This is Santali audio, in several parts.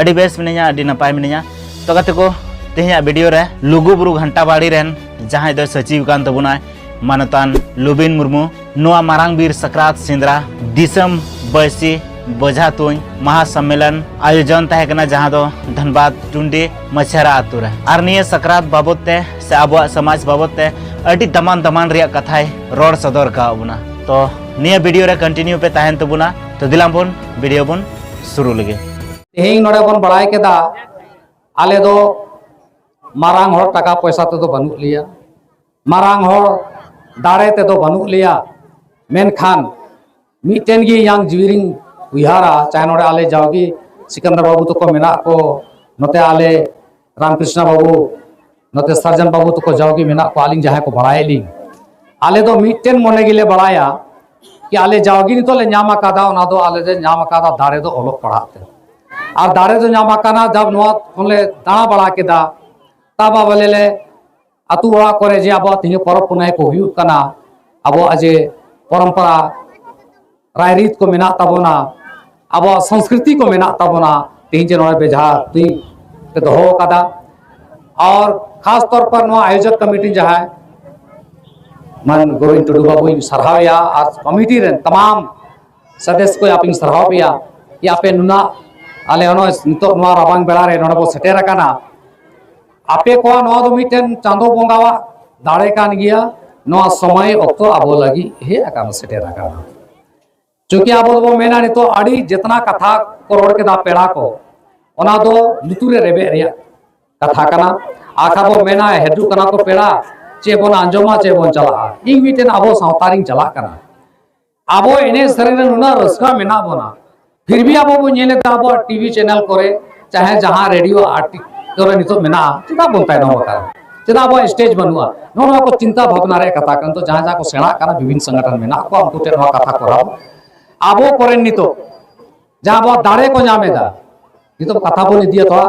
ᱟᱹᱰᱤ ᱵᱮᱥ ᱢᱤᱱᱟᱹᱧᱟ ᱟᱹᱰᱤ ᱱᱟᱯᱟᱭ ᱢᱤᱱᱟᱹᱧᱟ ᱛᱚ ᱜᱟᱛᱮ ᱠᱚ ᱛᱮᱦᱮᱧᱟᱜ ᱵᱷᱤᱰᱤᱭᱳ ᱨᱮ ᱞᱩᱜᱩ ᱵᱩᱨᱩ ᱜᱷᱟᱱᱴᱟ ᱵᱟᱲᱤ ᱨᱮᱱ ᱡᱟᱦᱟᱸᱭ ᱫᱚᱭ ᱥᱟᱹᱪᱤᱣ ᱠᱟᱱ ᱛᱟᱵᱚᱱᱟᱭ ᱢᱟᱱᱚᱛᱟᱱ ᱞᱩᱵᱤᱱ ᱢᱩᱨᱢᱩ ᱱᱚᱣᱟ ᱢᱟᱨᱟᱝ ᱵᱤᱨ ᱥᱟᱠᱨᱟᱛ ᱥᱮᱸᱫᱽᱨᱟ ᱫᱤᱥᱚᱢ ᱵᱟᱹᱭᱥᱤ ᱵᱚᱡᱷᱟ ᱛᱩᱧ ᱢᱟᱦᱟ ᱥᱚᱢᱢᱮᱞᱚᱱ ᱟᱭᱳᱡᱚᱱ ᱛᱟᱦᱮᱸ ᱠᱟᱱᱟ ᱡᱟᱦᱟᱸ ᱫᱚ ᱫᱷᱟᱱᱵᱟᱫᱽ ᱴᱩᱱᱰᱤ ᱢᱟᱪᱷᱟᱨᱟ ᱟᱛᱳ ᱨᱮ ᱟᱨ ᱱᱤᱭᱟᱹ ᱥᱟᱠᱨᱟᱛ ᱵᱟᱵᱚᱫ ᱛᱮ ᱥᱮ ᱟᱵᱚᱣᱟᱜ ᱥᱚᱢᱟᱡᱽ ᱵᱟᱵᱚᱫ ᱛᱮ ᱟᱹᱰᱤ ᱫᱟᱢᱟᱱ ᱫᱟᱢᱟᱱ ᱨᱮᱭᱟᱜ ᱠᱟᱛᱷᱟᱭ ᱨᱚᱲ ᱥᱚᱫᱚᱨ ᱠᱟᱣ ᱵᱚᱱᱟ ᱛᱚ ᱱᱤᱭᱟᱹ ᱵᱷᱤᱰᱤᱭᱳ ᱨᱮ ᱠᱚᱱᱴᱤᱱᱤᱭᱩ ᱯᱮ ᱛᱟᱦᱮᱱ ᱛᱟᱵᱚᱱᱟ ᱛᱚ ᱫᱤᱞᱟᱢ ᱵᱚᱱ ᱵᱷᱤᱰᱤᱭᱳ ᱵᱚᱱ ᱥᱩᱨᱩ ᱞᱮᱜᱮ ᱛᱮᱦᱮᱧ ᱱᱚᱰᱮ ᱵᱚᱱ ᱵᱟᱲᱟᱭ ᱠᱮᱫᱟ ᱟᱞᱮ ᱫᱚ ᱢᱟᱨᱟᱝ ᱦᱚᱲ ᱴᱟᱠᱟ ᱯᱚᱭᱥᱟ ᱛᱮᱫᱚ ᱵᱟᱹᱱᱩᱜ ᱞᱮᱭᱟ ᱢᱟᱨᱟᱝ ᱦᱚᱲ ᱫᱟᱲᱮ ᱛᱮᱫᱚ ᱵᱟᱹᱱᱩᱜ ᱞᱮᱭᱟ ᱢᱮᱱᱠᱷᱟᱱ ᱢᱤᱫᱴᱮᱱ ᱜᱮ ᱤᱧᱟᱹᱝ ᱡᱤᱣᱤ ᱨᱤᱧ ᱩᱭᱦᱟᱹᱨᱟ ᱪᱟᱦᱮ ᱱᱚᱰᱮ ᱟᱞᱮ ᱡᱟᱣᱜᱮ ᱥᱤᱠᱟᱱᱫᱟᱨ ᱵᱟᱹᱵᱩ ᱛᱟᱠᱚ ᱢᱮᱱᱟᱜ ᱠᱚ ᱱᱚᱛᱮ ᱟᱞᱮ ᱨᱟᱢᱠᱨᱤᱥᱱᱟ ᱵᱟᱹᱵᱩ ᱱᱚᱛᱮ ᱥᱟᱨᱡᱚᱱ ᱵᱟᱹᱵᱩ ᱛᱟᱠᱚ ᱡᱟᱣᱜᱮ ᱢᱮᱱᱟᱜ ᱠᱚᱣᱟ ᱟᱹᱞᱤᱧ ᱡᱟᱦᱟᱸᱭ ᱠᱚ ᱵᱟᱲᱟᱭᱮᱫ ᱞᱤᱧ ᱟᱞᱮ ᱫᱚ ᱢᱤᱫᱴᱮᱱ ᱢᱚᱱᱮ ᱜᱮᱞᱮ ᱵᱟᱲᱟᱭᱟ ᱠᱤ ᱟᱞᱮ ᱡᱟᱣᱜᱮ ᱱᱤᱛᱚᱜ ᱞᱮ ᱧᱟᱢ ᱟᱠᱟᱫᱟ ᱚᱱᱟ ᱫᱚ ᱟᱞᱮ ᱞᱮ ᱧᱟᱢ ᱟᱠᱟᱫᱟ ᱫᱟᱲᱮ ᱫᱚ ᱚᱞᱚᱜ ᱯᱟᱲᱦᱟᱜ ᱛᱮ ᱟᱨ ᱫᱟᱲᱮ ᱫᱚ ᱧᱟᱢ ᱟᱠᱟᱱᱟ ᱡᱟᱵ ᱱᱚᱣᱟ ᱠᱷᱚᱱ ᱞᱮ ᱫᱟᱬᱟ ᱵᱟᱲᱟ ᱠᱮᱫᱟ ᱛᱟᱵᱟ ᱵᱚᱞᱮ ᱞᱮ ᱟᱛᱳ ᱚᱲᱟᱜ ᱠᱚᱨᱮ ᱡᱮ ᱟᱵᱚᱣᱟᱜ ᱛᱮᱦᱮᱧ ᱯᱚᱨᱚᱵᱽ ᱯᱩᱱᱟᱹᱭ ᱠᱚ ᱦᱩᱭᱩᱜ ᱠᱟᱱᱟ ᱟᱵᱚᱣᱟᱜ ᱡᱮ ᱯᱚᱨᱚᱢᱯᱚᱨᱟ ᱨᱟᱭᱨᱤᱛ ᱠᱚ ᱢᱮᱱᱟᱜ ᱛᱟᱵᱚᱱᱟ ᱟᱵᱚᱣᱟᱜ ᱥᱚᱝᱥᱠᱨᱤᱛᱤ ᱠᱚ ᱢᱮᱱᱟᱜ ᱛᱟᱵᱚᱱᱟ ᱛᱮᱦᱮᱧ ᱡᱮ ᱱᱚᱰᱮ ᱵᱮᱡᱷᱟ ᱛᱩᱧ ᱯᱮ ᱫᱚᱦᱚ ᱟᱠᱟᱫᱟ ᱟᱨ ᱠᱷᱟᱥ ᱛᱚᱨ ᱯᱚᱨ ᱱᱚᱣᱟ ᱟᱭᱳᱡᱚᱠ ᱠᱚᱢᱤᱴᱤ ᱡᱟᱦᱟᱸᱭ ᱢᱟᱱ ᱜᱳᱵᱤᱱᱫ ᱴᱩᱰᱩ ᱵᱟᱵᱩᱧ ᱥᱟᱨᱦᱟᱣᱮᱭᱟ ᱟᱨ ᱠᱚᱢᱤᱴᱤ ᱨᱮᱱ ᱛᱟᱢᱟᱢ ᱥᱚᱫᱮᱥ ᱠᱚ ᱟᱯᱮᱧ ᱥᱟᱨᱦᱟᱣ ᱯᱮᱭᱟ ᱡᱮ ᱟᱯᱮ ᱱᱩᱱᱟᱹᱜ ᱟᱞᱮ ᱱᱚᱜᱼᱚᱭ ᱱᱤᱛᱚᱜ ᱱᱚᱣᱟ ᱨᱟᱵᱟᱝ ᱵᱮᱲᱟ ᱨᱮ ᱱᱚᱰᱮ ᱵᱚ ᱥᱮᱴᱮᱨ ᱟᱠᱟᱱᱟ ᱟᱯᱮ ᱠᱚᱣᱟᱜ ᱱᱚᱣᱟ ᱫᱚ ᱢᱤᱫᱴᱮᱱ ᱪᱟᱸᱫᱚ ᱵᱚᱸᱜᱟᱣᱟᱜ ᱫᱟᱲᱮ ᱠᱟᱱ ᱜᱮᱭᱟ ᱱᱚᱣᱟ ᱥᱚᱢᱚᱭ ᱚᱠᱛᱚ ᱟᱵᱚ ᱞᱟᱹᱜᱤᱫ ᱦᱮᱡ ᱟᱠᱟᱱᱟ ᱥᱮᱴᱮᱨ ᱟᱠᱟᱱᱟ ᱪᱩᱸᱠᱤ ᱟᱵᱚ ᱫᱚᱵᱚ ᱢᱮᱱᱟ ᱱᱤᱛᱚᱜ ᱟᱹᱰᱤ ᱡᱮᱛᱱᱟ ᱠᱟᱛᱷᱟ ᱠᱚ ᱨᱚᱲ ᱠᱮᱫᱟ ᱯᱮᱲᱟ ᱠᱚ ᱚᱱᱟ ᱫᱚ ᱞᱩᱛᱩᱨ ᱨᱮ ᱨᱮᱵᱮᱫ ᱨᱮᱭᱟᱜ ᱠᱟᱛᱷᱟ ᱠᱟᱱᱟ ᱟᱠᱷᱟ ᱵᱚ ᱢᱮᱱᱟ ᱦᱤᱡᱩᱜ ᱠᱟᱱᱟ ᱠᱚ ᱯᱮᱲᱟ ᱪᱮᱫ ᱵᱚᱱ ᱟᱸᱡᱚᱢᱟ ᱪᱮᱫ ᱵᱚᱱ ᱪᱟᱞᱟᱜᱼᱟ ᱤᱧ ᱢᱤᱫᱴᱮᱱ ᱟᱵᱚ ᱥᱟᱶᱛᱟ ᱨᱤᱧ ᱪᱟᱞᱟᱜ ᱠᱟᱱᱟ ᱟᱵᱚ ᱮᱱᱮᱡ ᱥᱮᱨᱮᱧ ᱨᱮ ᱱᱩᱱᱟᱹᱜ ᱨᱟᱹᱥᱠᱟᱹ ᱢᱮᱱᱟᱜ ᱵᱚᱱᱟ ᱯᱷᱤᱨ ᱵᱷᱤ ᱟᱵᱚ ᱵᱚᱱ ᱧᱮᱞᱮᱫ ᱠᱟᱱᱟ ᱟᱵᱚᱣᱟᱜ ᱴᱤᱵᱷᱤ ᱪᱮᱱᱮᱞ ᱠᱚᱨᱮ ᱪᱟᱦᱮ ᱡᱟᱦᱟᱸ ᱨᱮᱰᱤᱭᱳ ᱟᱨ ᱠᱚᱨᱮ ᱱᱤᱛᱚᱜ ᱢᱮᱱᱟᱜᱼᱟ ᱪᱮᱫᱟᱜ ᱵᱚᱱ ᱛᱟᱭᱱᱚᱢ ᱟᱠᱟᱱᱟ ᱪᱮᱫᱟᱜ ᱟᱵᱚᱣᱟᱜ ᱥᱴᱮᱡᱽ ᱵᱟᱹᱱᱩᱜᱼᱟ ᱱᱚᱣᱟ ᱱᱚᱣᱟ ᱠᱚ ᱪᱤᱱᱛᱟ ᱵᱷᱟᱵᱽᱱᱟ ᱨᱮᱭᱟᱜ ᱠᱟᱛᱷᱟ ᱠᱟᱱᱟ ᱱᱤᱛᱚᱜ ᱡᱟᱦᱟᱸ ᱡᱟᱦᱟᱸ ᱠᱚ ᱥᱮᱬᱟᱜ ᱠᱟᱱᱟ ᱵᱤᱵᱷᱤᱱ ᱥᱚᱝᱜᱚᱴᱷᱚᱱ ᱢᱮᱱᱟᱜ ᱠᱚᱣᱟ ᱩᱱᱠᱩ ᱴᱷᱮᱱ ᱱᱚᱣᱟ ᱠᱟᱛᱷᱟ ᱠᱚᱨᱟᱣ ᱟᱵᱚ ᱠᱚᱨᱮᱱ ᱱᱤᱛᱚᱜ ᱡᱟᱦᱟᱸ ᱟᱵᱚᱣᱟᱜ ᱫᱟᱲᱮ ᱠᱚ ᱧᱟᱢ ᱮᱫᱟ ᱱᱤᱛᱚᱜ ᱠᱟᱛᱷᱟ ᱵᱚᱱ ᱤᱫᱤᱭᱟ ᱛᱷᱚᱲᱟ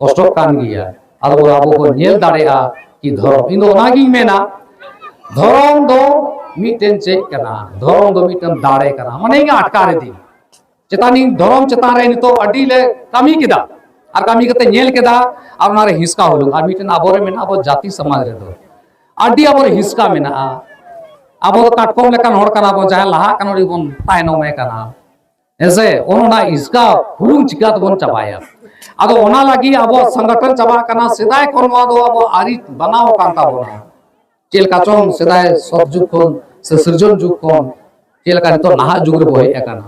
ᱠᱚᱥᱴᱚᱜ ᱠᱟᱱ ᱜᱮᱭᱟ ᱟᱫᱚ ᱟᱵᱚ ᱵᱚᱱ ᱧᱮᱞ ᱫᱟᱲᱮᱭᱟᱜᱼᱟ ᱠᱤ ᱫᱷᱚᱨᱚᱢ ᱤᱧ ᱫᱚ ᱚᱱᱟᱜᱤᱧ ᱢᱮᱱᱟ ᱫᱷᱚᱨᱚᱢ ᱫᱚ ᱢᱤᱫᱴᱮᱱ ᱪᱮᱫ ᱠᱟᱱᱟ ᱫᱷᱚᱨᱚᱢ ᱫᱚ ᱢᱤᱫᱴᱮᱱ ᱫᱟᱲᱮ ᱠᱟᱱᱟ ᱢᱟᱱᱮ ᱤᱧ ᱟᱴᱠᱟᱨ ᱤᱫᱤ ᱪᱮᱛᱟᱱᱤᱧ ᱫᱷᱚᱨᱚᱢ ᱪᱮᱛᱟᱱ ᱨᱮ ᱱᱤᱛᱚᱜ ᱟᱹᱰᱤ ᱞᱮ ᱠᱟᱹᱢᱤ ᱠᱮᱫᱟ ᱟᱨ ᱠᱟᱹᱢᱤ ᱠᱟᱛᱮ ᱧᱮᱞ ᱠᱮᱫᱟ ᱟᱨ ᱚᱱᱟᱨᱮ ᱦᱤᱥᱠᱟ ᱦᱩᱞᱩᱝ ᱟᱨ ᱢᱤᱫᱴᱮᱱ ᱟᱵᱚᱨᱮ ᱢᱮᱱᱟᱜᱼᱟ ᱟᱵᱚ ᱡᱟᱹᱛᱤ ᱥᱚᱢᱟᱡᱽ ᱨᱮᱫᱚ ᱟᱹᱰᱤ ᱟᱵᱚᱨᱮ ᱦᱤᱥᱠᱟ ᱢᱮᱱᱟᱜᱼᱟ ᱟᱵᱚ ᱫᱚ ᱠᱟᱴᱠᱚᱢ ᱞᱮᱠᱟᱱ ᱦᱚᱲ ᱠᱟᱱᱟ ᱵᱚᱱ ᱡᱟᱦᱟᱸᱭ ᱞᱟᱦᱟᱜ ᱠᱟᱱᱟ ᱩᱱᱤ ᱵᱚᱱ ᱛᱟᱭᱱᱚᱢᱮ ᱠᱟᱱᱟ ᱦᱮᱸᱥᱮ ᱚᱱᱟ ᱤᱥᱠᱟ ᱦᱩᱲᱩᱝ ᱪᱤᱠᱟ ᱛᱮᱵᱚᱱ ᱪᱟᱵᱟᱭᱟ ᱟᱫᱚ ᱚᱱᱟ ᱞᱟᱹᱜᱤᱫ ᱟᱵᱚ ᱥᱚᱝᱜᱚᱴᱷᱚᱱ ᱪᱟᱵᱟᱜ ᱠᱟᱱᱟ ᱥᱮᱫᱟᱭ ᱠᱷᱚᱱ ᱱᱚᱣᱟ ᱫᱚ ᱟᱵᱚ ᱟᱹᱨᱤ ᱵᱟᱱᱟᱣ ᱟᱠᱟᱱ ᱛᱟᱵᱚᱱᱟ ᱪᱮᱫ ᱞᱮᱠᱟ ᱪᱚᱝ ᱥᱮᱫᱟᱭ ᱥᱚᱛ ᱡᱩᱜᱽ ᱠᱷᱚᱱ ᱥᱮ ᱥᱤᱨᱡᱚᱱ ᱡᱩᱜᱽ ᱠᱷᱚᱱ ᱪᱮᱫ ᱞᱮᱠᱟ ᱱᱤᱛᱚᱜ ᱱᱟᱦᱟᱜ ᱡᱩᱜᱽ ᱨᱮᱵᱚ ᱦᱮᱡ ᱟᱠᱟᱱᱟ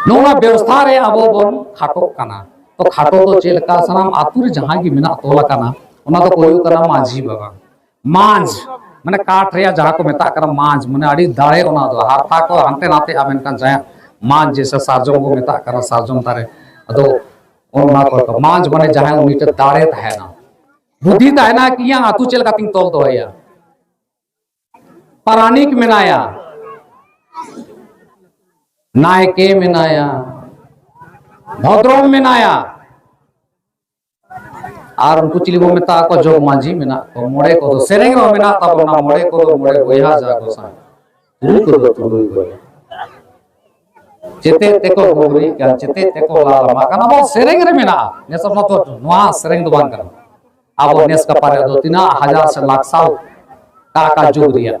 ᱱᱚᱣᱟ ᱵᱮᱵᱚᱥᱛᱷᱟ ᱨᱮ ᱟᱵᱚ ᱵᱚᱱ ᱠᱷᱟᱴᱚᱜ ᱠᱟᱱᱟ ᱛᱚ ᱠᱷᱟᱴᱚ ᱫᱚ ᱪᱮᱫ ᱞᱮᱠᱟ ᱥᱟᱱᱟᱢ ᱟᱛᱳ ᱨᱮ ᱡᱟᱦᱟᱸ ᱜᱮ ᱢᱮᱱᱟᱜ ᱛᱚᱞ ᱟᱠᱟᱱᱟ ᱚᱱᱟ ᱫᱚ ᱦᱩᱭᱩᱜ ᱠᱟᱱᱟ ᱢᱟᱹᱡᱷᱤ ᱵᱟᱵᱟ ᱢᱟᱸᱡᱽ ᱢᱟᱱᱮ ᱠᱟᱴ ᱨᱮᱭᱟᱜ ᱡᱟᱦᱟᱸ ᱠᱚ ᱢᱮᱛᱟᱜ ᱠᱟᱱᱟ ᱢᱟᱸᱡᱽ ᱢᱟᱱᱮ ᱟᱹᱰᱤ ᱫᱟᱲᱮ ᱚᱱᱟ ᱫᱚ ᱦᱟᱨᱛᱟ ᱠᱚ ᱦᱟᱱᱛᱮ ᱱᱟᱛᱮᱜᱼᱟ ᱢᱮᱱᱠᱷᱟᱱ ᱡᱟᱦᱟᱸ ᱢᱟᱸᱡᱽ ᱡᱮᱥᱮ ᱥᱟᱨᱡᱚᱢ ᱠᱚ ᱢᱮᱛᱟᱜ ᱠᱟᱱᱟ ᱥᱟᱨᱡᱚᱢ ᱫᱟᱨᱮ ᱟᱫᱚ ᱚᱱᱟ ᱠᱚ ᱢᱟᱸᱡᱽ ᱢᱟᱱᱮ ᱡᱟᱦᱟᱸᱭ ᱩᱱᱤ ᱴᱷᱮᱱ ᱫᱟᱲᱮ ᱛᱟᱦᱮᱱᱟ ᱵᱩᱫᱷᱤ ᱛᱟᱦᱮᱱᱟ ᱠᱤ ᱤᱧᱟᱹᱜ ᱟᱛᱳ ᱪᱮᱫ ᱞᱮᱠᱟᱛᱤᱧ ᱛᱚᱞ ᱫᱚᱦᱚᱭᱟ ᱯᱟᱨᱟᱱᱤᱠ ᱢᱮᱱᱟᱭᱟ ᱱᱟᱭᱠᱮ ᱢᱮᱱᱟᱭᱟ ᱵᱷᱚᱫᱨᱚᱢ ᱢᱮᱱᱟᱭᱟ ᱟᱨ ᱩᱱᱠᱩ ᱪᱤᱞᱤ ᱵᱚᱱ ᱢᱮᱛᱟ ᱠᱚ ᱡᱚᱜᱽ ᱢᱟᱹᱡᱷᱤ ᱢᱮᱱᱟᱜ ᱠᱚ ᱢᱚᱬᱮ ᱠᱚᱫᱚ ᱥᱮᱨᱮᱧ ᱦᱚᱸ ᱢᱮᱱᱟᱜ ᱛᱟᱵᱚᱱᱟ ᱢᱚᱬᱮ ᱠᱚᱫᱚ ᱢᱚᱬᱮ ᱵᱚᱭᱦᱟ ᱡᱟ ᱜᱚᱥᱟᱸᱭ ᱛᱩᱨᱩᱭ ᱠᱚᱫᱚ ᱛᱩᱨᱩᱭ ᱵᱚᱭᱦᱟ ᱪᱮᱛᱮ ᱛᱮᱠᱚ ᱜᱚᱵᱨᱤ ᱠᱟᱱ ᱪᱮᱛᱮ ᱛᱮᱠᱚ ᱞᱟᱞᱟᱢᱟ ᱠᱟᱱᱟ ᱵᱚ ᱥᱮᱨᱮᱧ ᱨᱮ ᱢᱮᱱᱟᱜᱼᱟ ᱱᱮᱥ ᱚᱱᱟ ᱫᱚ ᱱᱚᱣᱟ ᱥᱮᱨᱮᱧ ᱫᱚ ᱵᱟᱝ ᱠᱟᱱᱟ ᱟᱵᱚ ᱱᱮᱥ ᱠᱟᱯᱟᱨᱮ ᱫᱚ ᱛᱤᱱᱟᱹᱜ ᱦᱟᱡᱟᱨ ᱥᱮ ᱞᱟᱠᱷ ᱥᱟᱞ ᱠᱟᱠᱟ ᱡᱩᱜᱽ ᱨᱮᱭᱟᱜ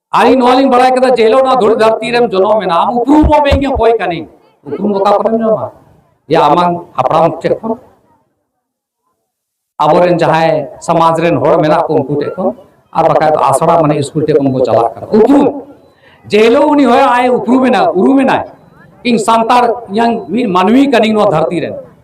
ᱟᱹᱞᱤᱧ ᱱᱚᱣᱟ ᱞᱤᱧ ᱵᱟᱲᱟᱭ ᱠᱮᱫᱟ ᱡᱮ ᱦᱤᱞᱳᱜ ᱱᱚᱣᱟ ᱫᱷᱩᱲᱤ ᱫᱷᱟᱹᱨᱛᱤ ᱨᱮᱢ ᱡᱚᱱᱚᱢ ᱮᱱᱟ ᱟᱢ ᱩᱯᱨᱩᱢ ᱦᱚᱸ ᱵᱟᱹᱧ ᱚᱠᱚᱭ ᱠᱟᱹᱱᱟᱹᱧ ᱩᱯᱨᱩᱢ ᱚᱠᱟ ᱠᱚᱨᱮᱢ ᱧᱟᱢᱟ ᱡᱮ ᱟᱢᱟᱝ ᱦᱟᱯᱲᱟᱢ ᱴᱷᱮᱱ ᱠᱷᱚᱱ ᱟᱵᱚᱨᱮᱱ ᱡᱟᱦᱟᱸᱭ ᱥᱚᱢᱟᱡᱽ ᱨᱮᱱ ᱦᱚᱲ ᱢᱮᱱᱟᱜ ᱠᱚ ᱩᱱᱠᱩ ᱴᱷᱮᱱ ᱠᱷᱚᱱ ᱟᱨ ᱵᱟᱠᱷᱟᱡ ᱫᱚ ᱟᱥᱲᱟ ᱢᱟᱱᱮ ᱥᱠᱩᱞ ᱴᱷᱮᱱ ᱠᱷᱚᱱ ᱠᱚ ᱪᱟᱞᱟᱜ ᱠᱟᱱᱟ ᱩᱯᱨᱩᱢ ᱡᱮ ᱦᱤᱞᱳᱜ ᱩᱱᱤ ᱦᱚᱭ ᱟᱭ ᱩᱯᱨᱩᱢᱮᱱᱟ ᱩᱨᱩᱢᱮᱱᱟᱭ ᱤᱧ ᱥᱟᱱᱛᱟᱲ ᱤᱧᱟᱝ ᱢᱤᱫ ᱢᱟᱹᱱᱢᱤ ᱠᱟᱹᱱᱟᱹᱧ ᱱᱚᱣᱟ ᱫᱷᱟᱹᱨᱛᱤ ᱨᱮᱱ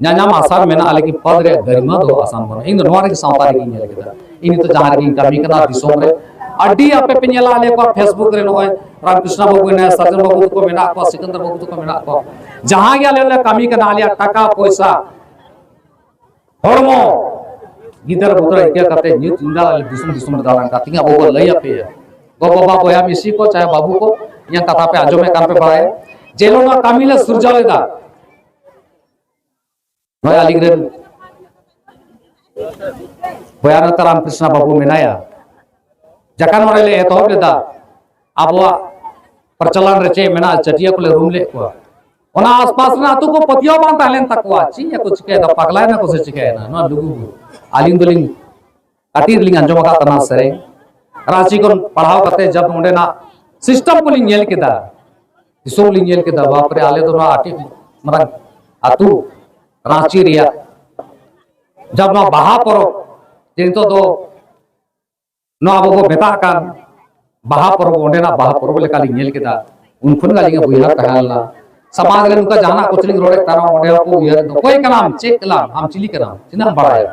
ᱧᱟᱧᱟᱢ ᱟᱥᱟᱨ ᱢᱮᱱᱟᱜᱼᱟ ᱞᱮᱠᱤᱱ ᱯᱚᱫ ᱨᱮᱭᱟᱜ ᱜᱟᱨᱤᱢᱟ ᱫᱚ ᱟᱥᱟᱱ ᱵᱟᱹᱱᱩᱜᱼᱟ ᱤᱧ ᱫᱚ ᱱᱚᱣᱟ ᱨᱮᱜᱮ ᱥᱟᱶᱛᱟ ᱨᱮᱜᱮᱧ ᱧᱮᱞ ᱠᱮᱫᱟ ᱤᱧ ᱱᱤᱛᱚᱜ ᱡᱟᱦᱟᱸ ᱨᱮᱜᱮᱧ ᱠᱟᱹᱢᱤ ᱠᱟᱱᱟ ᱫᱤᱥᱚᱢ ᱨᱮ ᱟᱹᱰᱤ ᱟᱯᱮ ᱯᱮ ᱧᱮᱞᱟ ᱟᱞᱮ ᱠᱚᱣᱟ ᱯᱷᱮᱥᱵᱩᱠ ᱨᱮ ᱱᱚᱜᱼᱚᱭ ᱨᱟᱢᱠᱨᱤᱥᱱᱟ ᱵᱟᱹᱵᱩ ᱢᱮᱱᱟᱭᱟ ᱥᱟᱨᱡᱚᱱ ᱵᱟᱹᱵᱩ ᱛᱟᱠᱚ ᱢᱮᱱᱟᱜ ᱠᱚᱣᱟ ᱥᱤᱠᱚᱱᱫᱚᱨ ᱵᱟᱹᱵᱩ ᱛᱟᱠᱚ ᱢᱮᱱᱟᱜ ᱠᱚᱣᱟ ᱡᱟᱦᱟᱸ ᱜᱮ ᱟᱞᱮ ᱞᱮ ᱠᱟᱹᱢᱤ ᱠᱟᱱᱟ ᱟᱞᱮᱭᱟᱜ ᱴᱟᱠᱟ ᱯᱚᱭᱥᱟ ᱦᱚᱲᱢᱚ ᱜᱤᱫᱟᱹᱨ ᱵᱩᱫᱟᱹᱨ ᱤᱠᱟᱹ ᱠᱟᱛᱮ ᱧᱩᱛ ᱧᱤᱫᱟᱹ ᱟᱞᱮ ᱫᱤᱥᱚᱢ ᱫᱤᱥᱚᱢ ᱨᱮ ᱫᱟᱬᱟᱱ ᱠᱟᱛᱮ ᱟᱵᱚ ᱵᱚ ᱞᱟᱹᱭ ᱟᱯᱮᱭᱟ ᱜᱚᱜᱚ ᱵᱟᱵᱟ ᱵᱚᱭᱦᱟ ᱢᱤᱥᱤ ᱠᱚ ᱪᱟᱦᱮ ᱵᱟᱹᱵᱩ ᱠᱚ ᱤᱧᱟᱹᱜ ᱠᱟᱛᱷᱟ ᱯᱮ ᱟᱸᱡᱚᱢᱮᱫ ᱠᱟᱱ ᱯᱮ ᱵᱟᱲᱟᱭᱟ ᱡᱮ ᱱᱚᱣᱟ ᱠᱟᱹᱢᱤ ᱞᱮ ᱥᱩᱨᱡᱟᱣ ᱞᱮᱫᱟ ᱱᱚᱜᱼᱚᱭ ᱟᱹᱞᱤᱧ ᱨᱮᱱ ᱵᱚᱭᱟ ᱱᱮᱛᱟ ᱨᱟᱢᱠᱨᱤᱥᱱᱟ ᱵᱟᱹᱵᱩ ᱢᱮᱱᱟᱭᱟ ᱡᱟᱠᱟᱱ ᱢᱚᱬᱮ ᱞᱮ ᱮᱛᱚᱦᱚᱵ ᱞᱮᱫᱟ ᱟᱵᱚᱣᱟᱜ ᱯᱨᱚᱪᱚᱞᱚᱱ ᱨᱮ ᱪᱮᱫ ᱢᱮᱱᱟᱜᱼᱟ ᱪᱟᱹᱴᱤᱭᱟᱹ ᱠᱚᱞᱮ ᱨᱩᱢ ᱞᱮᱫ ᱠᱚᱣᱟ ᱚᱱᱟ ᱟᱥᱯᱟᱥ ᱨᱮᱱᱟᱜ ᱟᱹᱛᱩ ᱠᱚ ᱯᱟᱹᱛᱭᱟᱹᱣ ᱵᱟᱝ ᱛᱟᱦᱮᱸ ᱞᱮᱱ ᱛᱟᱠᱚᱣᱟ ᱪᱮᱫ ᱠᱚ ᱪᱤᱠᱟᱹᱭᱮᱫᱟ ᱯᱟᱜᱽᱞᱟᱭᱮᱱᱟ ᱠᱚ ᱥᱮ ᱪᱤᱠᱟᱹᱭᱮᱱᱟ ᱱᱚᱣᱟ ᱞᱩᱜᱩ ᱟᱹᱞᱤᱧ ᱫᱚᱞᱤᱧ ᱠᱟᱹᱴᱤᱡ ᱨᱮᱞᱤᱧ ᱟᱸᱡᱚᱢ ᱟᱠᱟᱫ ᱛᱟᱦᱮᱱᱟ ᱥᱮᱨᱮᱧ ᱨᱟᱺᱪᱤ ᱠᱷᱚᱱ ᱯᱟᱲᱦᱟᱣ ᱠᱟᱛᱮ ᱡᱟᱵ ᱚᱸᱰᱮᱱᱟᱜ ᱥᱤᱥᱴᱮᱢ ᱠᱚᱞᱤᱧ ᱧᱮᱞ ᱠᱮᱫᱟ ᱫᱤᱥᱚᱢ ᱞᱤᱧ ᱧᱮᱞ ᱠᱮᱫᱟ ᱵᱟᱯᱨᱮ ᱟᱞᱮ ᱫᱚ ᱱᱚᱣᱟ ᱟᱹᱰᱤ ᱢᱟᱨᱟᱝ ᱟᱹᱛᱩ ᱨᱟᱺᱪᱤ ᱨᱮᱭᱟᱜ ᱡᱟᱵ ᱱᱚᱣᱟ ᱵᱟᱦᱟ ᱯᱚᱨᱚᱵᱽ ᱡᱮ ᱱᱤᱛᱚᱜ ᱫᱚ ᱱᱚᱣᱟ ᱟᱵᱚ ᱵᱚ ᱢᱮᱛᱟᱜ ᱠᱟᱱ ᱵᱟᱦᱟ ᱯᱚᱨᱚᱵᱽ ᱚᱸᱰᱮᱱᱟᱜ ᱵᱟᱦᱟ ᱯᱚᱨᱚᱵᱽ ᱞᱮᱠᱟᱞᱤᱧ ᱧᱮᱞ ᱠᱮᱫᱟ ᱩᱱ ᱠᱷᱚᱱ ᱜᱮ ᱟᱹᱞᱤᱧᱟᱜ ᱩᱭᱦᱟᱹᱨ ᱛᱟᱦᱮᱸ ᱞᱮᱱᱟ ᱥᱟᱢᱟᱝ ᱨᱮ ᱱᱚᱝᱠᱟ ᱡᱟᱦᱟᱱᱟᱜ ᱠᱚ ᱪᱮᱞᱤᱧ ᱨᱚᱲᱮᱫ ᱠᱟᱱᱟ ᱚᱸᱰᱮ ᱦᱚᱸᱠᱚ ᱩᱭᱦᱟᱹᱨ ᱚᱠᱚᱭ ᱠᱟᱱᱟᱢ ᱪᱮᱫ ᱠᱟᱱᱟᱢ ᱟᱢ ᱪᱤᱞᱤ ᱠᱟᱱᱟᱢ ᱛᱤᱱᱟᱹᱜ ᱮᱢ ᱵᱟᱲᱟᱭᱟ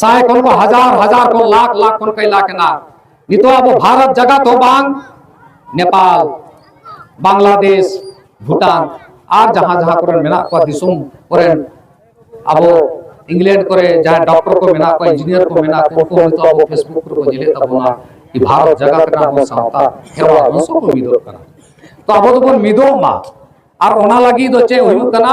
ᱥᱟᱭ ᱠᱷᱚᱱ ᱠᱚ ᱦᱟᱡᱟᱨ ᱦᱟᱡᱟᱨ ᱠᱚ ᱞᱟᱠᱷ ᱞᱟᱠᱷ ᱠᱷᱚᱱ ᱠᱚ ᱮᱞᱟᱠ ᱮᱱᱟ ᱱᱤᱛᱚᱜ ᱟᱵᱚ ᱵᱷᱟᱨᱚᱛ ᱡᱟᱜᱟᱛ ᱦᱚᱸ ᱵᱟᱝ ᱱᱮᱯᱟᱞ ᱵᱟᱝᱞᱟᱫᱮᱥ ᱵᱷᱩᱴᱟᱱ ᱟᱨ ᱡᱟᱦᱟᱸ ᱡᱟᱦᱟᱸ ᱠᱚᱨᱮ ᱢᱮᱱᱟᱜ ᱠᱚᱣᱟ ᱫᱤᱥᱚᱢ ᱠᱚᱨᱮ ᱟᱵᱚ ᱤᱝᱞᱮᱱᱰ ᱠᱚᱨᱮ ᱡᱟᱦᱟᱸ ᱰᱚᱠᱴᱚᱨ ᱠᱚ ᱢᱮᱱᱟᱜ ᱠᱚᱣᱟ ᱤᱧᱡᱤᱱᱤᱭᱟᱨ ᱠᱚ ᱢᱮᱱᱟᱜ ᱠᱚᱣᱟ ᱩᱱᱠᱩ ᱱᱤᱛᱚᱜ ᱟᱵᱚ ᱯᱷᱮᱥᱵᱩᱠ ᱠᱚᱨᱮ ᱠᱚ ᱧᱮᱞᱮᱫ ᱛᱟᱵᱚᱱᱟ ᱠᱤ ᱵᱷᱟᱨᱚᱛ ᱡᱟᱜᱟᱛ ᱨᱮ ᱟᱵᱚ ᱥᱟᱶᱛᱟ ᱦᱮᱣᱟ ᱵᱚᱝᱥᱚ ᱠᱚ ᱢᱤᱫᱚᱜ ᱠᱟᱱᱟ ᱛᱚ ᱟᱵᱚ ᱫᱚᱵᱚᱱ ᱢᱤᱫᱚᱜ ᱢᱟ ᱟᱨ ᱚᱱᱟ ᱞᱟᱹᱜᱤᱫ ᱫᱚ ᱪᱮᱫ ᱦᱩᱭᱩᱜ ᱠᱟᱱᱟ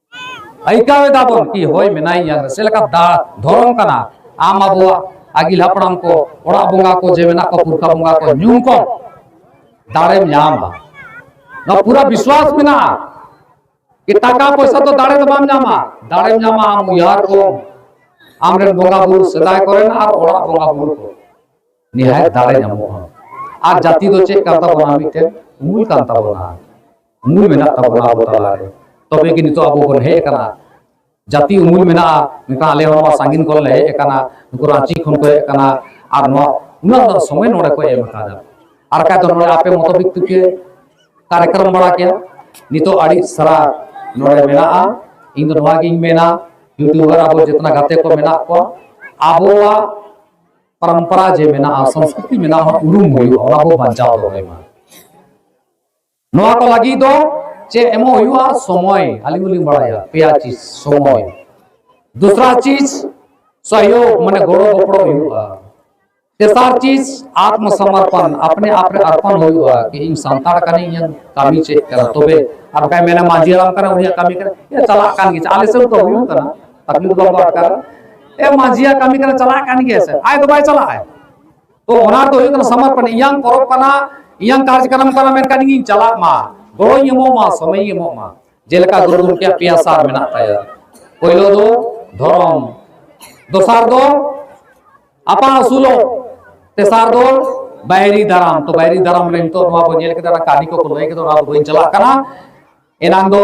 ᱟᱭᱠᱟᱣ ᱮᱫᱟ ᱵᱚᱱ ᱠᱤ ᱦᱚᱭ ᱢᱮᱱᱟᱭ ᱧᱟᱝ ᱨᱮ ᱥᱮ ᱞᱮᱠᱟ ᱫᱟᱲ ᱫᱷᱚᱨᱚᱢ ᱠᱟᱱᱟ ᱟᱢ ᱟᱵᱚᱣᱟᱜ ᱟᱹᱜᱤᱞ ᱦᱟᱯᱲᱟᱢ ᱠᱚ ᱚᱲᱟᱜ ᱵᱚᱸᱜᱟ ᱠᱚ ᱡᱮ ᱢᱮᱱᱟᱜ ᱠᱚ ᱯᱩᱨᱠᱷᱟ ᱵᱚᱸᱜᱟ ᱠᱚ ᱧᱩᱢ ᱠᱚ ᱫᱟᱲᱮᱢ ᱧᱟᱢᱟ ᱱᱚᱣᱟ ᱯᱩᱨᱟ ᱵᱤᱥᱣᱟᱥ ᱢᱮᱱᱟᱜᱼᱟ ᱠᱤ ᱴᱟᱠᱟ ᱯᱚᱭᱥᱟ ᱫᱚ ᱫᱟᱲᱮ ᱫᱚ ᱵᱟᱢ ᱧᱟᱢᱟ ᱫᱟᱲᱮᱢ ᱧᱟᱢᱟ ᱟᱢ ᱩᱭᱦᱟᱹᱨ ᱠᱚ ᱟᱢᱨᱮᱱ ᱵᱚᱸᱜᱟ ᱵᱩᱨᱩ ᱥᱮᱫᱟᱭ ᱠᱚᱨᱮᱱ ᱟᱨ ᱚᱲᱟᱜ ᱵᱚᱸᱜᱟ ᱵᱩᱨᱩ ᱠᱚ ᱱᱤᱦᱟᱭ ᱫᱟᱲᱮ ᱧᱟᱢᱚᱜᱼᱟ ᱟᱨ ᱡᱟᱹᱛᱤ ᱫᱚ ᱪᱮᱫ ᱠᱟᱱ ᱛᱟᱵᱚᱱᱟ ᱢᱤᱫᱴᱮᱱ ᱢᱩᱞ ᱠᱟᱱ ᱛᱟᱵᱚᱱᱟ ᱢᱩᱞ ᱢᱮᱱᱟᱜ ᱛᱟᱵᱚᱱᱟ ᱟᱵᱚ ᱛᱟᱞᱟᱨᱮ ᱛᱚᱵᱮ ᱜᱮ ᱱᱤᱛᱚᱜ ᱟᱵᱚ ᱵᱚᱱ ᱦᱮᱡ ᱟᱠᱟᱱᱟ ᱡᱟᱹᱛᱤ ᱩᱢᱩᱞ ᱢᱮᱱᱟᱜᱼᱟ ᱢᱮᱱᱠᱷᱟᱱ ᱟᱞᱮ ᱦᱚᱸ ᱱᱚᱣᱟ ᱥᱟᱺᱜᱤᱧ ᱠᱷᱚᱱ ᱞᱮ ᱦᱮᱡ ᱟᱠᱟᱱᱟ ᱱᱩᱠᱩ ᱨᱟᱺᱪᱤ ᱠᱷᱚᱱ ᱠᱚ ᱦᱮᱡ ᱟᱠᱟᱱᱟ ᱟᱨ ᱱᱚᱣᱟ ᱩᱱᱟᱹᱜ ᱫᱚ ᱥᱚᱢᱚᱭ ᱱᱚᱰᱮ ᱠᱚ ᱮᱢ ᱟᱠᱟᱫᱟ ᱟᱨ ᱠᱷᱟᱡ ᱫᱚ ᱱᱚᱰᱮ ᱟᱯᱮ ᱢᱚᱛᱚ ᱵᱤᱠᱛᱤ ᱯᱮ ᱠᱟᱨᱭᱚᱠᱨᱚᱢ ᱵᱟᱲᱟ ᱠᱮᱭᱟ ᱱᱤᱛᱚᱜ ᱟᱹᱰᱤ ᱥᱟᱨᱟ ᱱᱚᱰᱮ ᱢᱮᱱᱟᱜᱼᱟ ᱤᱧ ᱫᱚ ᱱᱚᱣᱟ ᱜᱤᱧ ᱢᱮᱱᱟ ᱤᱭᱩᱴᱤᱭᱩᱵᱟᱨ ᱟᱵᱚ ᱡᱮᱛᱱᱟ ᱜᱟᱛᱮ ᱠᱚ ᱢᱮᱱᱟᱜ ᱠᱚᱣᱟ ᱟᱵᱚᱣᱟᱜ ᱯᱚᱨᱚᱢᱯᱚᱨᱟ ᱡᱮ ᱢᱮᱱᱟᱜᱼᱟ ᱥᱚᱝᱥᱠᱨᱤᱛᱤ ᱢᱮᱱᱟᱜᱼᱟ ᱩᱨᱩᱢ ᱦᱩᱭᱩᱜᱼᱟ ᱚᱱᱟ ᱵᱚ ᱵᱟᱧᱪᱟᱣ ᱫᱚᱦᱚᱭ ᱢᱟ ᱱᱚᱣᱟ ᱠᱚ ᱞᱟᱹᱜᱤᱫ ᱫᱚ ᱪᱮᱫ ᱮᱢᱚᱜ ᱦᱩᱭᱩᱜᱼᱟ ᱥᱚᱢᱚᱭ ᱟᱹᱞᱤᱧ ᱦᱚᱸᱞᱤᱧ ᱵᱟᱲᱟᱭᱟ ᱯᱮᱭᱟ ᱪᱤᱡᱽ ᱥᱚᱢᱚᱭ ᱫᱩᱥᱨᱟ ᱪᱤᱡᱽ ᱥᱚᱦᱭᱳᱜᱽ ᱢᱟᱱᱮ ᱜᱚᱲᱚ ᱜᱚᱯᱚᱲᱚ ᱦᱩᱭᱩᱜᱼᱟ ᱛᱮᱥᱟᱨ ᱪᱤᱡᱽ ᱟᱛᱢᱚ ᱥᱚᱢᱚᱨᱯᱚᱱ ᱟᱯᱱᱮ ᱟᱯ ᱨᱮ ᱟᱨᱯᱚᱱ ᱦᱩᱭᱩᱜᱼᱟ ᱠᱤ ᱤᱧ ᱥᱟᱱᱛᱟᱲ ᱠᱟᱹᱱᱟᱹᱧ ᱤᱧᱟᱹᱜ ᱠᱟᱹᱢᱤ ᱪᱮᱫ ᱠᱟᱱᱟ ᱛᱚᱵᱮ ᱟᱨ ᱵᱟᱠᱷᱟᱡ ᱢᱮᱱᱟ ᱢᱟᱹᱡᱷᱤ ᱦᱟᱲᱟᱢ ᱠᱟᱱᱟ ᱩᱱᱤᱭᱟᱜ ᱠᱟᱹᱢᱤ ᱠᱟᱱᱟ ᱪᱟᱞᱟᱜ ᱠᱟᱱ ᱜᱮ ᱟᱞᱮ ᱥᱮᱫ ᱫᱚ ᱦᱩᱭᱩᱜ ᱠᱟᱱᱟ ᱟᱹᱛᱩ ᱫᱚ ᱵᱟᱠᱚ ᱟᱴᱠᱟᱨᱟ ᱮ ᱢᱟᱹᱡᱷᱤᱭᱟᱜ ᱠᱟᱹᱢᱤ ᱠᱟᱱᱟ ᱪᱟᱞᱟᱜ ᱠᱟᱱ ᱜᱮᱭᱟ ᱥᱮ ᱟᱡ ᱫᱚ ᱵᱟᱭ ᱪᱟᱞᱟᱜᱼᱟ ᱛᱚ ᱚᱱᱟ ᱫᱚ ᱦᱩᱭᱩᱜ ᱠᱟᱱᱟ ᱥᱚᱢᱚᱨᱯᱚᱱ ᱤᱧᱟᱝ ᱯᱚᱨᱚᱵ ᱠᱟᱱᱟ ᱤᱧᱟᱝ ᱠᱟᱨᱡᱚᱠᱨᱚᱢ ᱠᱟᱱᱟ ᱢᱮᱱᱠᱷᱟᱱ ᱤᱧ ᱪᱟᱞᱟᱜ ᱢᱟ ᱜᱚᱲᱚᱧ ᱮᱢᱚᱜ ᱢᱟ ᱥᱚᱢᱚᱭᱤᱧ ᱮᱢᱚᱜ ᱢᱟ ᱡᱮᱞᱮᱠᱟ ᱜᱩᱨᱩ ᱜᱚᱢᱠᱮᱭᱟᱜ ᱯᱮᱭᱟ ᱥᱟᱨ ᱢᱮᱱᱟᱜ ᱛᱟᱭᱟ ᱯᱳᱭᱞᱳ ᱫᱚ ᱫᱷᱚᱨᱚᱢ ᱫᱚᱥᱟᱨ ᱫᱚ ᱟᱯᱟᱱ ᱟᱹᱥᱩᱞᱚᱜ ᱛᱮᱥᱟᱨ ᱫᱚ ᱵᱟᱭᱨᱤ ᱫᱟᱨᱟᱢ ᱛᱚ ᱵᱟᱭᱨᱤ ᱫᱟᱨᱟᱢ ᱨᱮ ᱱᱤᱛᱚᱜ ᱱᱚᱣᱟ ᱵᱚᱱ ᱧᱮᱞ ᱠᱮᱫᱟ ᱠᱟᱹᱦᱱᱤ ᱠᱚᱠᱚ ᱞᱟᱹᱭ ᱠᱮᱫᱟ ᱚᱱᱟ ᱫᱚ ᱵᱟᱹᱧ ᱪᱟᱞᱟᱜ ᱠᱟᱱᱟ ᱮᱱᱟᱝ ᱫᱚ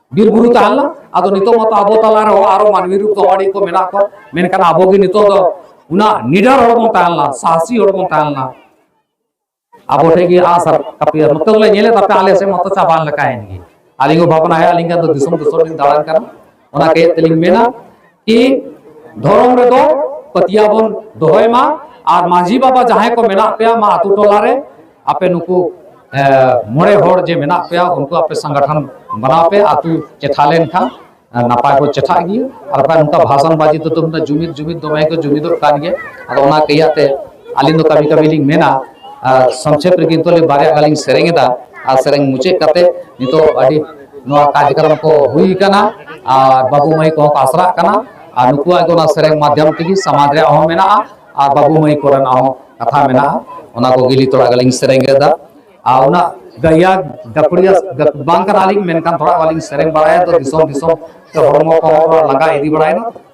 ᱵᱤᱨ ᱵᱩᱨᱩ ᱛᱟᱦᱮᱸ ᱞᱮᱱᱟ ᱟᱫᱚ ᱱᱤᱛᱚᱜ ᱢᱟᱛᱚ ᱟᱵᱚ ᱛᱟᱞᱟ ᱨᱮᱦᱚᱸ ᱟᱨᱚ ᱢᱟᱹᱱᱢᱤ ᱨᱩᱯ ᱫᱚ ᱟᱹᱰᱤ ᱠᱚ ᱢᱮᱱᱟᱜ ᱠᱚᱣᱟ ᱢᱮᱱᱠᱷᱟᱱ ᱟᱵᱚ ᱜᱮ ᱱᱤᱛᱚᱜ ᱫᱚ ᱚᱱᱟ ᱱᱤᱰᱟᱨ ᱦᱚᱲ ᱵᱚᱱ ᱛᱟᱦᱮᱸ ᱞᱮᱱᱟ ᱥᱟᱦᱥᱤ ᱦᱚᱲ ᱵᱚᱱ ᱛᱟᱦᱮᱸ ᱞᱮᱱᱟ ᱟᱵᱚ ᱴᱷᱮᱱ ᱜᱮ ᱟᱥ ᱟᱨ ᱠᱟᱹᱯᱤ ᱟᱨ ᱱᱚᱛᱮ ᱫᱚᱞᱮ ᱧᱮᱞᱮᱫ ᱛᱟᱯᱮ ᱟᱞᱮ ᱥᱮᱫ ᱢᱟᱛᱚ ᱪᱟᱵᱟᱱ ᱞᱮᱠᱟᱭᱮᱱ ᱜᱮ ᱟᱹᱞᱤᱧ ᱦᱚᱸ ᱵᱷᱟᱵᱽᱱᱟᱭᱮᱫ ᱟᱹᱞᱤᱧ ᱫᱚ ᱫᱤᱥᱚᱢ ᱫᱤᱥᱚᱢ ᱞᱤᱧ ᱫᱟᱬᱟᱱ ᱠᱟᱱᱟ ᱚᱱᱟ ᱠᱟᱹᱡ ᱛᱮᱞᱤᱧ ᱢᱮᱱᱟ ᱠᱤ ᱫᱷᱚᱨᱚᱢ ᱨᱮᱫᱚ ᱯᱟᱹᱛᱭᱟᱹᱣ ᱵᱚᱱ ᱫᱚᱦᱚᱭ ᱢᱟ ᱟᱨ ᱢᱟᱹᱡᱷᱤ ᱵᱟᱵᱟ ᱡᱟᱦᱟᱸᱭ ᱠᱚ ᱢᱮᱱᱟᱜ ᱯᱮᱭᱟ ᱢᱟ ᱟᱛᱳ ᱴᱚᱞᱟ ᱨᱮ ᱟᱯᱮ ᱱᱩᱠᱩ ᱢᱚᱬᱮ ᱦᱚᱲ ᱡᱮ ᱢᱮᱱᱟᱜ ᱯᱮᱭᱟ ᱩᱱᱠᱩ ᱟᱯᱮ ᱥᱟᱝᱜᱟᱴᱷᱟᱱ ᱵᱟᱱᱟᱣ ᱯᱮ ᱟᱛᱳ ᱪᱮᱴᱷᱟ ᱞᱮᱱᱠᱷᱟᱱ ᱱᱟᱯᱟᱭ ᱠᱚ ᱪᱮᱴᱷᱟᱜ ᱜᱮᱭᱟ ᱟᱨ ᱵᱟᱠᱷᱟᱱ ᱱᱚᱝᱠᱟ ᱵᱷᱟᱥᱟᱱ ᱵᱟᱡᱤ ᱫᱚ ᱛᱩᱢᱫᱟᱜ ᱡᱩᱢᱤᱫ ᱡᱩᱢᱤᱫ ᱫᱚᱢᱮ ᱠᱚ ᱡᱩᱢᱤᱫᱚᱜ ᱠᱟᱱ ᱜᱮᱭᱟ ᱟᱫᱚ ᱚᱱᱟ ᱠᱟᱹᱭᱟᱛᱮ ᱟᱹᱞᱤᱧ ᱫᱚ ᱠᱟᱹᱢᱤ ᱠᱟᱹᱢᱤ ᱞᱤᱧ ᱢᱮᱱᱟ ᱥᱚᱝᱠᱷᱮᱯ ᱨᱮ ᱠᱤᱱᱛᱩ ᱵᱟᱨᱭᱟ ᱜᱟᱱ ᱞᱤᱧ ᱥᱮᱨᱮᱧ ᱮᱫᱟ ᱟᱨ ᱥᱮᱨᱮᱧ ᱢᱩᱪᱟᱹᱫ ᱠᱟᱛᱮ ᱱᱤᱛᱚᱜ ᱟᱹᱰᱤ ᱱᱚᱣᱟ ᱠᱟᱨᱡᱚᱠᱨᱚᱢ ᱠᱚ ᱦᱩᱭ ᱠᱟᱱᱟ ᱟᱨ ᱵᱟᱹᱵᱩ ᱢᱟᱹᱭ ᱠᱚᱦᱚᱸ ᱠᱚ ᱟᱥᱨᱟᱜ ᱠᱟᱱᱟ ᱟᱨ ᱱᱩᱠᱩᱣᱟᱜ ᱜᱮ ᱚᱱᱟ ᱥᱮᱨᱮᱧ ᱢᱟᱫᱽᱫᱷᱚᱢ ᱛᱮᱜᱮ ᱥᱚᱢᱟᱡᱽ ᱨᱮᱭᱟᱜ ᱦᱚᱸ ᱢᱮᱱᱟᱜᱼᱟ ᱟᱨ ᱵᱟᱹᱵᱩ ᱢᱟᱹᱭ ᱠᱚᱨᱮᱱᱟᱜ ᱦᱚᱸ ᱠᱟᱛᱷᱟ ᱢᱮᱱᱟᱜᱼᱟ ᱚᱱᱟ ᱠᱚ ᱜᱤᱞᱤ ᱛᱷᱚᱲᱟ ᱜᱟᱞᱤᱧ ᱥᱮᱨᱮᱧ ᱞᱮᱫᱟ ᱟᱨ ᱚᱱᱟ ᱜᱟᱭᱟ ᱜᱟᱹᱠᱷᱩᱲᱤᱭᱟ ᱵᱟᱝ ᱠᱟᱱᱟᱞᱤᱧ ᱢᱮᱱᱠᱷᱟᱱ ᱛᱷᱚᱲᱟ ᱜᱟᱞᱤᱧ ᱥᱮᱨᱮᱧ ᱵᱟᱲᱟᱭᱟ ᱛᱚ ᱫᱤᱥᱚᱢ ᱫᱤᱥᱚᱢ ᱛᱮ ᱦᱚᱲᱢᱚ ᱠᱚ ᱞᱟᱸᱜᱟ ᱤᱫᱤ ᱵᱟᱲᱟᱭᱮᱱᱟ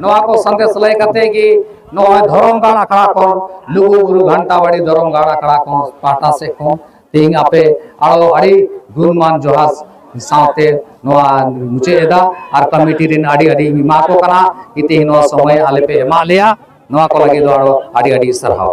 ᱱᱚᱣᱟ ᱠᱚ ᱥᱟᱸᱫᱮᱥ ᱞᱟᱹᱭ ᱠᱟᱛᱮ ᱜᱮ ᱱᱚᱜᱼᱚᱭ ᱫᱷᱚᱨᱚᱢ ᱜᱟᱲ ᱟᱠᱷᱲᱟ ᱠᱷᱚᱱ ᱞᱩᱜᱩ ᱵᱩᱨᱩ ᱜᱷᱟᱱᱴᱟᱵᱟᱲᱤ ᱫᱷᱚᱨᱚᱢ ᱜᱟᱲ ᱟᱠᱷᱲᱟ ᱠᱷᱚᱱ ᱯᱟᱦᱴᱟ ᱥᱮᱫ ᱠᱷᱚᱱ ᱛᱮᱦᱮᱧ ᱟᱯᱮ ᱟᱨᱚ ᱟᱹᱰᱤ ᱜᱩᱱᱢᱟᱱ ᱡᱚᱦᱟᱨ ᱥᱟᱶᱛᱮ ᱱᱚᱣᱟ ᱢᱩᱪᱟᱹᱫ ᱮᱫᱟ ᱟᱨ ᱠᱚᱢᱤᱴᱤ ᱨᱮᱱ ᱟᱹᱰᱤ ᱟᱹᱰᱤ ᱮᱢᱟ ᱠᱚ ᱠᱟᱱᱟ ᱛᱮᱦᱮᱧ ᱱᱚᱣᱟ ᱥᱚᱢᱚᱭ ᱟᱞᱮ ᱯᱮ ᱮᱢᱟᱜ ᱞᱮᱭᱟ ᱱᱚᱣᱟ ᱠᱚ ᱞᱟᱹᱜᱤᱫ ᱫᱚ ᱟᱨᱚ ᱟᱹᱰᱤ ᱟᱹᱰᱤ ᱥᱟᱨᱦᱟᱣ